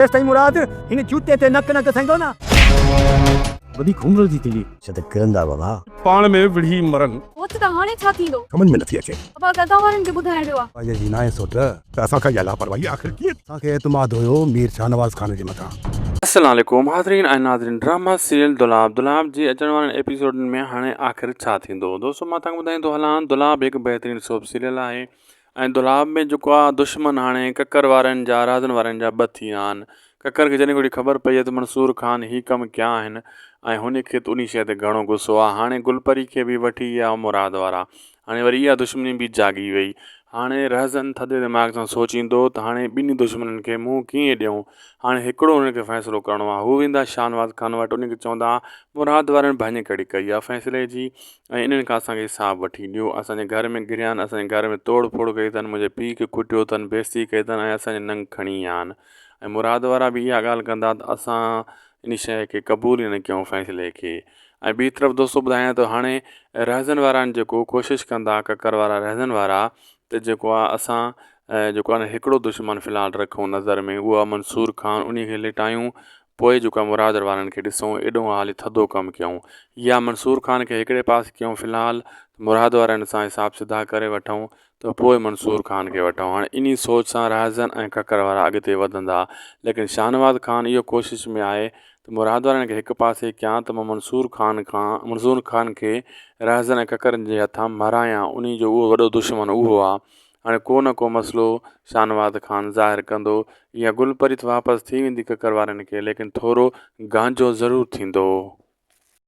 تيستائين مراد هن جوتي تي نڪ نه گسائيندو نه. وڏي گهومرل جي تلي. ڇا ته ڪرندا بابا. پاڻ ۾ وڙهي مرن. هوت ته هاڻي ڇا ٿيندو. سمجهه ۾ نٿي اچي. ابا قضا وارن کي ٻڌائڻ جو آ. پنهنجي جي ناهي سوٽ. ته اسان کان اها لاپرواهي آخر ڪيئن. اسان کي اعتماد هيو مير شاهنواز خان جي مٿان. السلام عليڪم حاضرين ۽ ناظرين ڊراما سيريل دولاب دولاب جي اچڻ وارن ايپيسوڊن ۾ هاڻي آخر ڇا ٿيندو دوستو مان توهان کي ٻڌائيندو هلان دولاب هڪ بهترين سوپ سيريل آهي ۽ دولاب ۾ جيڪو آ دشمن هاڻي ڪڪر وارن جا رازن وارن جا ٻه ٿي ويا آهن. ڪڪر کي جڏهن گهڙي خبر پئي ته منصور خان هي ڪم ڪيا آهن ۽ هن کي ته انهي شيء تي گهڻو غصو آ. هاڻي گل پري کي به وٺي ويا مراد وارا. هاڻي وري اها دشمني به جاڳي وئي. هاڻي رهزن ٿڌي دماغ سان سوچيندو ته هاڻي ٻنهي دشمنن کي منهن ڪيئن ڏيون. هاڻي هڪڙو هنن کي فيصلو ڪرڻو آ. هو ويندا شاهنواز خان وٽ انهي کي چوندا مراد وارن ڀڃ ڪڙي ڪئي آ فيصلي جي ۽ انهن کان اسان کي حساب وٺي ڏيو اسان جي گهر ۾ گهريا آهن اسان جي گهر ۾ توڙ ڦوڙ ڪئي اٿن منهنجي پيء کي ڪٽيو اٿن بيعزتي ڪئي اٿن ۽ اسان جي ننگ کڻي ويا آهن ۽ مراد وارا به اها ڳالهه ڪندا ته اسان ان شيء کي قبول ئي نه ڪيون فيصلي کي ۽ ٻي طرف دوستو ٻڌايان ته هاڻي رهزن وارا آهن جيڪو ڪوشش ڪندا ڪڪر وارا رهزن وارا ته جيڪو آهي اسان جيڪو آهي نه هڪڙو دشمن فلحال رکون نظر ۾ اهو آهي منصور خان ان کي لٽايون پوء جو ڪم مراد وارن کي ڏسون ايڏو هالي ٿڌو ڪم ڪيون يا منصور خان کي هڪڙي پاسي ڪيون في الحال ته مراد وارن سان حساب سڌا ڪري وٺون ته پوء منصور خان کي وٺون هاڻي انهي سوچ سان رهزن ۽ ککر وارا اڳتي وڌندا ليڪن شاهنواز خان اهو ڪوشش ۾ آهي ته مراد وارن کي هڪ پاسي ڪيان ته مان منصور خان کان منصور خان کي رهزن ۽ ککرن جي هٿان مھرايان انهي جو اهو وڏو دشمن اهو آ هاڻي ڪو نه ڪو مسئلو شاهنواز خان ظاهر ڪندو يا گل پريت واپس ٿي ويندي ڪڪر وارن کي ليڪن ٿورو گانجو ضرور ٿيندو.